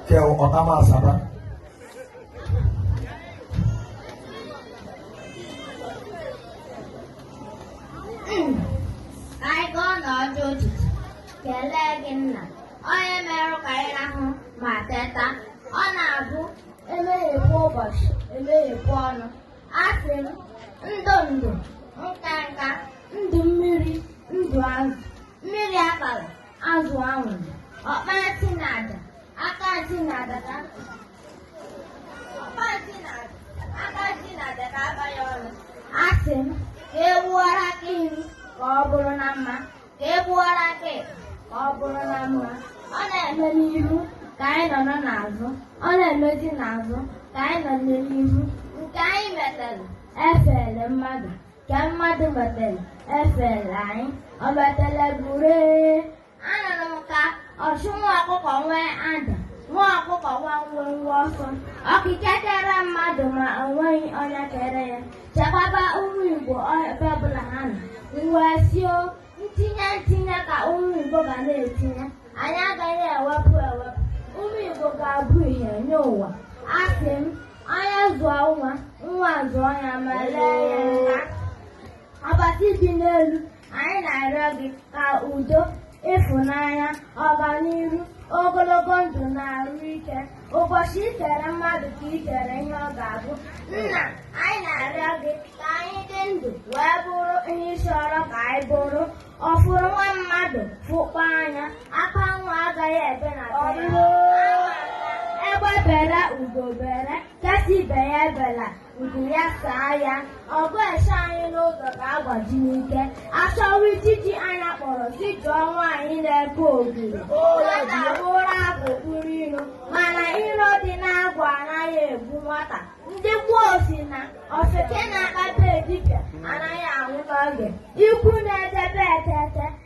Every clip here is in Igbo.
kẹ ọ̀tá máa sábà. Anyị gaa n'ọdụ ụtụtụ kelee gị nna onye merụ ka anyị rahụ ma teta ọ na-abụ emeghepụ ụbọchị emeghepụ ọnụ asị m ndụ ndụ nka nka ndụ mmiri ndụ azụ mmiri atala azụ anwụla ọkpa ntị na aja aka ntị na aja ka ọkpa ntị na aja aka ntị na aja ka aba ya ọnụ asị m ka egbuwara aka nri ka ọ bụrụ na mma ka egbuwara aka ekpe ka ọ bụrụ na mma ọ na-eme n'ihu ka anyị nọrọ n'azụ ọ na-emezi n'azụ ka anyị nọrọ n'ihu nke anyị metara efele mmadụ Nke mmadụ metere efele anyị, o metere buru anụrụ m ka ọchụ nwa ọkụkọ nwee ada nwa ọkụkọ nwee mwemwe ọsọ okike kere mmadụ ma o nweghị onye kere ya chekwaba ụmụ Igbo ebe ọbụla ha nọ m wee sị o ntinye ntinye ka ụmụ Igbo ga na-etinye anyị agaghị ewepụ ewepụ ụmụ Igbo ga-abụ ihe nye ụwa asị m onye zụọ nwa nwa zụọ ya ma lee ya nka ọbasi dị n'elu anyị na-arịọ gị ka udo ịfụnanya ọganihu ogologo ndụ na arụ ike ụbọchị i kere mmadụ ka i kere ihe ọ ga-abụ nna anyị na-arịọ gị ka anyị dị ndụ wee bụrụ ihe ị chọrọ ka anyị bụrụ ọ fụrụ nwa mmadụ fụkpọ anya akwa nwa agaghị ebe na be ya egbe bere ugo bere nke si ibe ya ebela Ubu ya saa ya, ọ bụ ese anyị n'ụzọ ka agbaji n'ike. Achọwa ijiji anya kpọrọ si jụọ nwaanyị na-eke ogiri. Nwata buru akụ kpụrụ iro, mana iro dị n'agwụ anaghị egbu nwata. Ndị gboo si na ofeke na-akpata dibịa anaghị anwụ n'oge. Ikwu na-edebe etete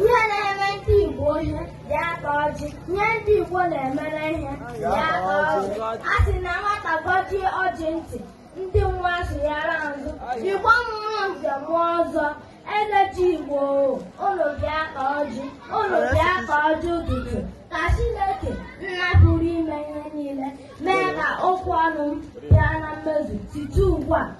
onye na-eme ndị Igbo ihe ya taa ọjị onye ndị Igbo na-emere ihe ya taa ọjị a sị na nwata gọjie ọjị ntị ndị nwa sụnyere azụ Igbo mụọ nze mụọ ọzọ eze ji Igbo unu bịa taa ọjị unu bịa taa ọjị ụtụtụ ka Chineke nna pụrụ ime ihe niile mee ka okwu ọnụ m bịa na mmezu site ugbu a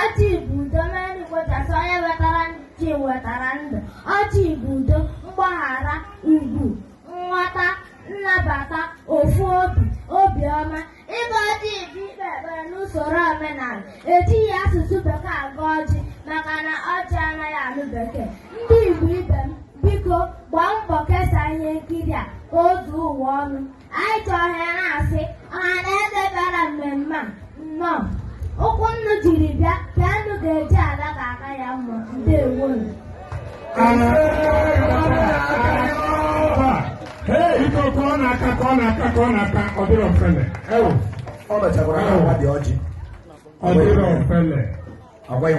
Ọjị bụ udo mere ndị Igbo ji asị onye wetara ọjị wetara ndụ. Ọjị bụ udo, mgbaghara, ugwu, nghọta, nnabata, ofu obi, obiọma. Ịgọ ọjị bụ ikpe ekpere n'usoro omenala. Ejighị asụsụ bekee agọ ọjị maka na ọjị anaghị anụ bekee. Ndị Igbo ibe m, biko gbaa mbọ kesaa ihe nkiri a ka o zuo ụwa ọnụ. anyị ji ohere a na-asị ọha na eze bịara mmemme a nnọọ ụkwụ unu jiri bịa ka unu ga-eji ala ka aka ya mma ndewo biko ka ọ na-aka ka ọ na-aka ka ọ na-aka ọ dịrọ ofele ewu ọ mechakwara na agwa dị ọjị ọ dịrọ ofele agwa ya